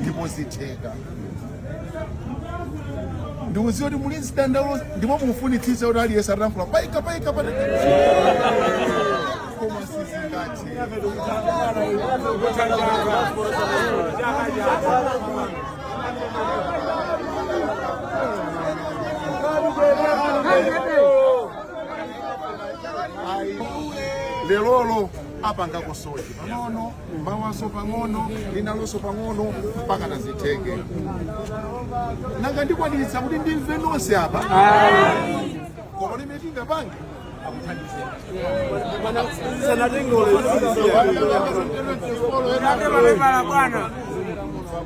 ndipo zitheka ndikuziwa kuti muli zidandaulo ndipo mukufunitsitsa kuti aliyense atalankhula paika paika apa koma sizingathe lerolo apangako so pang'ono mawanso pang'ono linalonso pang'ono mpaka nazitheke nanga ndikwaniritsa kuti ndimve nonse apa koma limene tingapange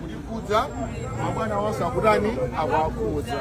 likukhudza mabwana onse akutani akuwakhudza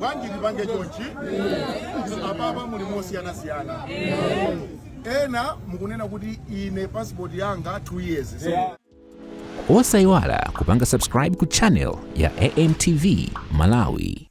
bwanji tipange chonchi apapa muli mosiyanasiyana ena mukunena kuti ine passport yanga 2 years so, osayiwala kupanga subscribe ku channel ya amtv malawi